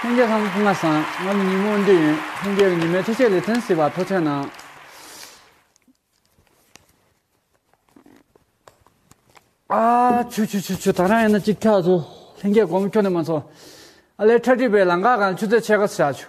ལྷན་རྒྱས་ཁང་ལྔ་སངས་ངམ་ཉིན་མོ་འདི་ཡིན་ལྷན་རྒྱས་ཀྱི་ཉི་མའི་འཕྲུལ་ཆས་ལས་ཐོན་སྲིད་པ་ཐོག་ཆ་ནང། ཨ། ཆུ་ཆུ་ཆུ་ཆུ་ད་རང་ཡིན་ན་ཅིག་ཐག་ཆོད་ལྷན་རྒྱས་གོང་མཁྱོ་ནས་མ་ཚོ། ཨ་ལས་ཁྲ་ཁྲིད་པའི་ལང་ཀ་གང་ཆུ་ཚོད་ཆད་ཁ་བྱ་ཆུ།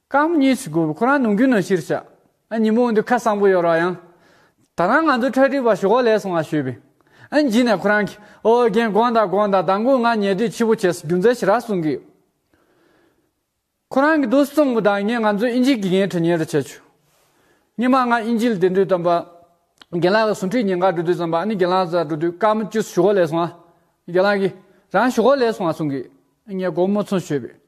རྐང་མི་གཉིས་ཤིག་དགོས་པས་ཁོ་རང་ནང་རྒྱུན་ནང་ཕྱིར་ཤ། ཨ་ཉི་མོ་འདི་ཁ་གསང་པོ་ཡོད་རོགས་ཡང། ད་རང་ང་ཚོ་ཁྲལ་སྒྲིག་པ་ཞོག་ལས་སོང་ང་ཞུས་པས། ཨ་ཉི་ནས་ཁོ་རང་གིས་ཨོ་རྒན་དགོངས་དག་དགོངས་དག་ད་མགོ་ང་ཉལ་དུས་འཕྱི་བོ་བྱས་སོ་རྒྱུ་མཚན་ཞིག་རག་གསུང་གི་ཡོད། ཁོ་རང་གིས་རྡོ་སི་གཙང་པོ་དང་ངས་ང་ཚོའི་དབྱིན་ཇིའི་དགེ་རྒན་ཁྲི་ཉེ་རུ་བྱས་ཆོག་སྙེ་མ་ང་དབྱིན་ཇིའི་ལས་དེ་འགྲུལ་དམ་པ་རྒན་ལགས་ལ་ཟུང་ཁྲིད་ཉེ་འགའ་འགྲོ་དུས་ཙམ་པ་ཨ་ནི་རྒན་ལགས་ཟ་འགྲོ་དུས་རྐང་མི་བཅུ་ཞོག་ལས་སོང་ཨ་རྒན་ལགས་ཀྱིས་རང་ཞོག་ལས་སོང་ང་གསུང་གི་ཡོད་ངས་སྒོར་མོ་ཚོང་ཞུས་པས།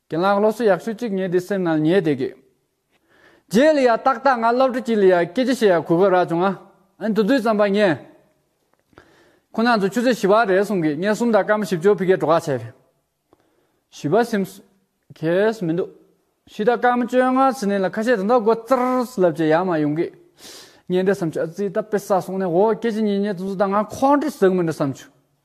གྱི་ལག་སློབ་གསོ་ཡག་ཤོས་གཅིག་ངེས་དེ་སེམས་ནང་ཉེས་དེ་གི། རྗེས་ལ་ཡང་ཏག་ཏག་ང་སློབ་གྲྭ་གཅིག་ལ་ཡང་སྐད་ཆ་བཤད་ཡག་གུས་པ་རག་བྱུང་ཨ། ཨན་དུ་དུས་ཙམ་པ་ངས། ཁོ་ནང་ཚོ་ཆུ་ཚོད་བཞི་བ་རེད་གསུང་གི་ངས་གསུམ་དང་སྐར་མ་བཞི་བཅུ་བྷི་གས་གྲོ་ཁ་བྱས། བཞི་བ་སེམས། གས་མི་འདུག། བཞི་དང་སྐར་མ་བཅོ་ལྔ་ཟི་ནས་ལ་ཁ་ཤས་དེ་འདྲ་དགོ་ཙར་ལབ་ཀྱི་ཡ་མ་ཡོང་གི། ངས་འདྲ་བསམ་ཆུ་ཨ་ཙི་ད་དཔེ་ས་སོང་ནས་འོ་སྐད་ཅིག་གཉིས་ཉེས་ཙུ་ཙུ་ད་ང་ཁོང་ཁྲོ་ཟིག་མི་འདྲ་བསམ་ཆུ།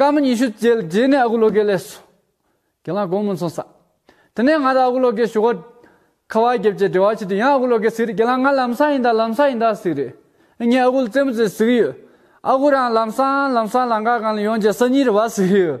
སྐར་མ་ཉི་ཤུ་བཅས་རྗེས་ནས་ཨ་ཁུ་བློ་དགེ་ལས་སུ་གྱེན་ལངས་དགོངས་མོལ་ཚོགས་བསགས། དེ་ནས་ང་དང་ཨ་ཁུ་བློ་དགེའི་ཞུ་སྒོ། ཁ་བ་བརྒྱབ་རྗེས་འབྲེལ་བ་བྱས་དུས་ཡང་ཨ་ཁུ་བློ་དགེ་ཟིག་རེད་གྱེན་ལངས་ང་ལམ་སང་ཡིན་ད་ལམ་སང་ཡིན་ད་ཟིག་རེད། ངས་ཨ་ཁུ་ལ་རྩེད་མོ་རྩེ་ཟིག་ཡོད། ཨ་ཁུ་རང་ལམ་སང་ལམ་སང་ལང་ཀ་གང་ལ་ཡོང་རྗེས་སང་ཉིན་རེ་བ་ཟིག་ཡོད།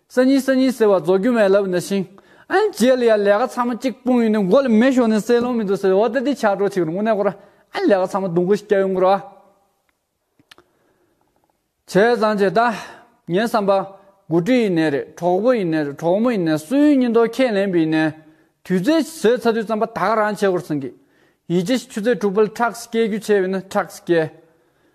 སང་ཉིན་སང་ཉིན་ཟེར་བ་རྫོགས་རྒྱུ་མེད་ལབ་ན་ཤིང། ཨན་རྗེས་ལ་ཡང་ལས་ཀ་ཚང་མ་གཅིག་སྤུངས་ཡོང་ནས་མགོ་ལ་མེ་ཞོ་ནས་བསྲེག་ལོང་མི་འདུག་ཟེར་བའི་འོག་ཏེ་དེ་ཆགས་གྲོགས་ཆེ་གི་རུ་ངོ་ནས་ཁོ་རང་ཨན་ལས་ཀ་ཚང་མ་འདུག་མགོ་ཞིག་བསྐྱལ་ཡོང་གི་རོ་ཨ། བྱས་ཙང་བྱས་ད། ངའི་བསམ་པ། དགུ་སྤྲུལ་ཡིན་ནས་རེད་གྲོགས་པོ་ཡིན་ནས་རེད་གྲོགས་མོ་ཡིན་ནས་སུ་ཡིན་སྙིང་སྟོབས་ཁས་ལེན་པ་ཡིན་ནས། དུས་ཚོད་ཟོས་ཚར་དུས་བསམ་པ་ད་ག་རང་བྱེད་དགོས་རེད་བསམ་གི། ཡིད་ཆེས་ཆུ་ཚད་དྲུག་པ་ལ་ཁྲག་སྐྱེལ་རྒྱུ་བྱས་པས་ན་ཁྲག་སྐྱེལ།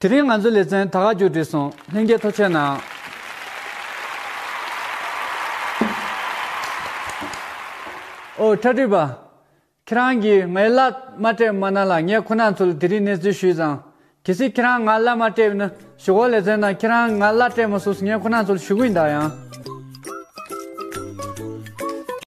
དེ་རིང་ང་ཚོའི་ལེ་ཚན་ད་ག་མཇུག་བསྒྲིལ་སོང་ལྷན་རྒྱས་ཐོ་ཆད་ནའང། ཨོ་ཁྲ་ཁྲི་པ། ཁྱེད་རང་གིས་ངའི་བླ་མ་སྤྲད་མ་གནང་ལ་ངས་ཁོ་ན་ཚོར་དེ་རིང་གནས་ཚུལ་ཞུས་ཙང། གལ་སྲིད་ཁྱེད་རང་ང་བླ་མ་སྤྲད་ན་ཞུ་གོ་ལེ་ཚན་ནང་ཁྱེད་རང་ང་བླ་སྤྲད་མ་སོགས་ངས་ཁོ་ན་ཚོར་ཞུ་གི་མི་འདག་ཡང།